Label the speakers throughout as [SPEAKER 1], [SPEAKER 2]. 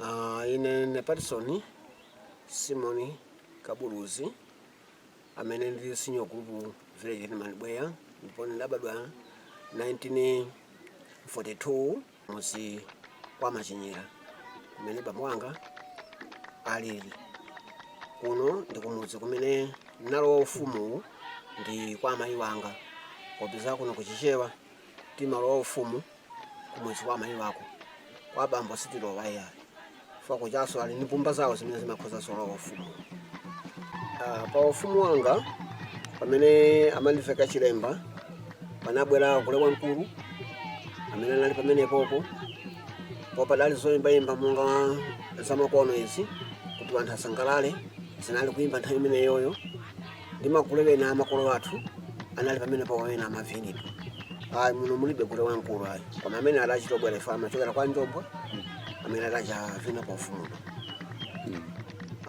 [SPEAKER 1] Uh, ine ne Patson Simon Kabuluzi amene ndili senior group village head man Bweya ndipo ndidabadwa 1942 kumudzi kwa Machinyera kumene bambo wanga alili kuno ndi kumudzi kumene nalowa ufumu ndi kwa amayi wanga popeza kuno ku Chichewa timalowa ufumu kumudzi kwa amayi wako kwa bambo sitilowa ya chifukwa kujaso ali ndi mbumba zawo zimene zimakhoza zolowa ufumu Ah, pa ufumu wanga pamene amandiveka chilemba panabwera gule wamkulu amene anali pamenepopo po padali zoyimbayimba monga zamakono izi kuti anthu asangalale zinali kuyimba nthawi imeneyoyo ndi magule ena a makolo athu anali pamenepo pamene amavinidwa ayi muno mulibe gule wamkulu ayi koma amene adachita obwera ife amachokera kwa Njombwa amene adachavina pa ufumu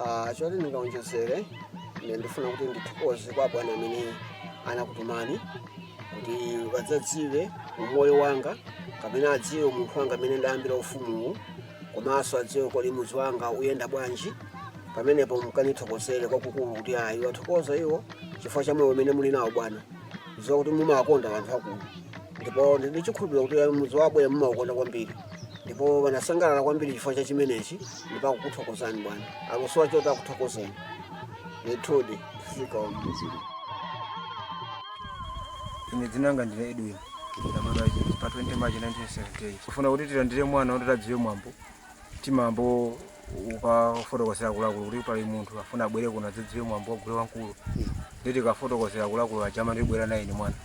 [SPEAKER 1] Ah, choti ndingaonjezere ine ndifuna kuti ndithokoze kwa bwana amene anakutumani kuti adzadziwe umoyo wanga kapena adziwe munthu wanga amene ndayambira ufumuwu komanso adziwe kodi mudzi wanga uyenda bwanji pamenepo mkanithokozere kwakukulu kuti ayi wathokoza iwo chifukwa cha moyo umene muli nawo bwana ndidziwa kuti mumawakonda anthu akulu ndipo ndili chikhulupiriro kuti ayi mudzi wabwera mumaukonda kwambiri ndipo wanasangalala kwambiri chifukwa cha chimenechi ndipo akukuthokozani bwana akusowa choti akuthokozeni ndithudi zikomo ine dzinanga ndine Edwin pa 20 March 1978 kufuna kuti tilandire mwana kuti adziwe mwambo timayamba ukafotokozera akuluakulu kuti pali munthu afuna abwere kuno adzadziwe mwambo wa gule wamkulu ndiye tikafotokozera akuluakulu aja amati bwera nayeni mwana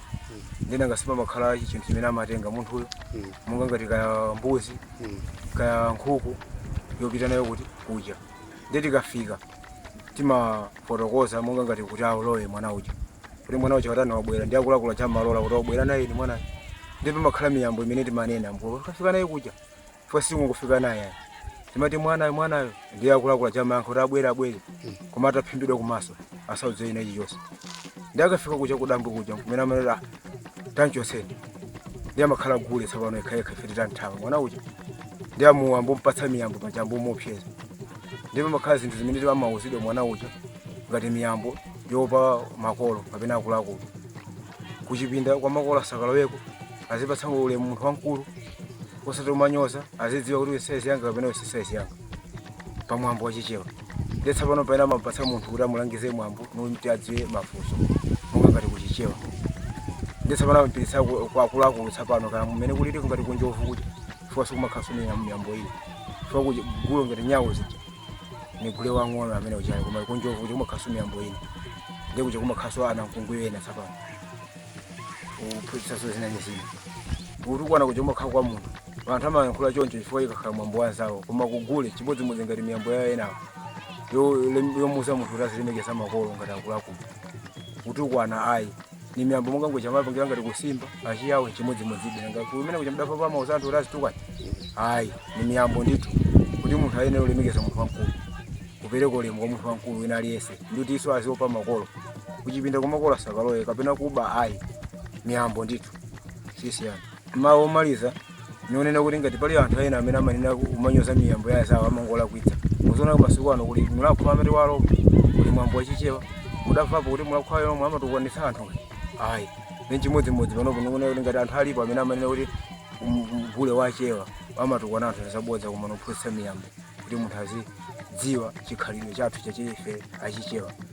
[SPEAKER 1] ndina ngasima pamakhala chinthu chimene amatenga munthuyo monga ngati kaya mbuzi kaya nkhuku yopita nayo kuti kuja ndiye tikafika timafotokoza monga ngati kuti alowe mwana uja kuti mwana uja watani wabwera ndiye akuluakulu aja amalola kuti bwera nayeni mwana ndiye pamakhala miyambo imene timanena nkukafika naye kuja chifukwa sikungofika naye ayi. timati mwanayo mwanayo ndiye akuluakulu aja amayankha kuti abwere abwere koma ataphimbidwa kumaso asaone china chilichonse ndiye akafika kuja kudambwe kuja kumene amanena tamchotseni ndiye amakhala gule tsopano yekhayekha ife titathawa mwana uja ndiye amayamba kumpatsa miyambo paja amayamba kumuopseza ndiye pamakhala zinthu zimene amawuzidwa mwana uja ngati miyambo yopa makolo kapena akuluakulu kuchipinda kwa makolo asakalowemo azipatsa ulemu munthu wamkulu osati kumanyoza azidziwa kuti wesaizi yanga kapena wesaizi yanga pamwambo wachichewa ndiye tsapano pena amapatsa munthu kuti amulangize mwambo kuti adziwe mafunso monga ngati kuchichewa ndiye tsapano amapititsa ku- kwa akuluakulu tsapano kaya mmene kulili ngati kunjovu kuti chifukwa sikumakhalaso miyambo iyi chifukwa kuja- gule ngati nyau zija ni gule wang'ono amene uchali koma kunjovu kuja kumakhalaso miyambo ina ndi kuja kumakhalaso anamkungwi ena tsapano kuphunzitsaso zina ndi zina kutukwana kuja kumakhala kwa munthu anthu amayankhula choncho chifukwa ikakhala mwambo wa anzawo koma kugule chimodzimodzi ngati miyambo yawo enawo yo- lem- yomuuza munthu kuti azilemekeza makolo ngati akuluakulu kutukwana ayi ni miyambo monga ngati achitira ngati kusimba achiyao chimodzimodzi nanga kumene kucha mdafa amauza anthu azitukwana ayi ni miyambo ndithu kuti munthu ayenera kulemekeza munthu wamkulu kupereka ulemu kwa munthu wamkulu wina aliyense ndikuti iso aziopa makolo kuchipinda kwa makolo asakalowe kapena kuba ayi miyambo ndithu sisiyana mawu omaliza nikunena kuti ngati pali anthu ena amene amanena kumanyoza miyambo ya anzawo amangolakwitsa muzaona masiku ano kuli mulhako amati walomwe kuli mwambo wachichewa mudamvapo kuti mulhako alomwe amatukwanitsa anthu ayi ni chimodzimodzi panopo nikunena kuti ngati anthu alipo amene amanena kuti gule wa achewa amatukwana anthu nzabodza koma ngophunzitsa miyambo kuti munthu azidziwa chikhalidwe chathu chachife achichewa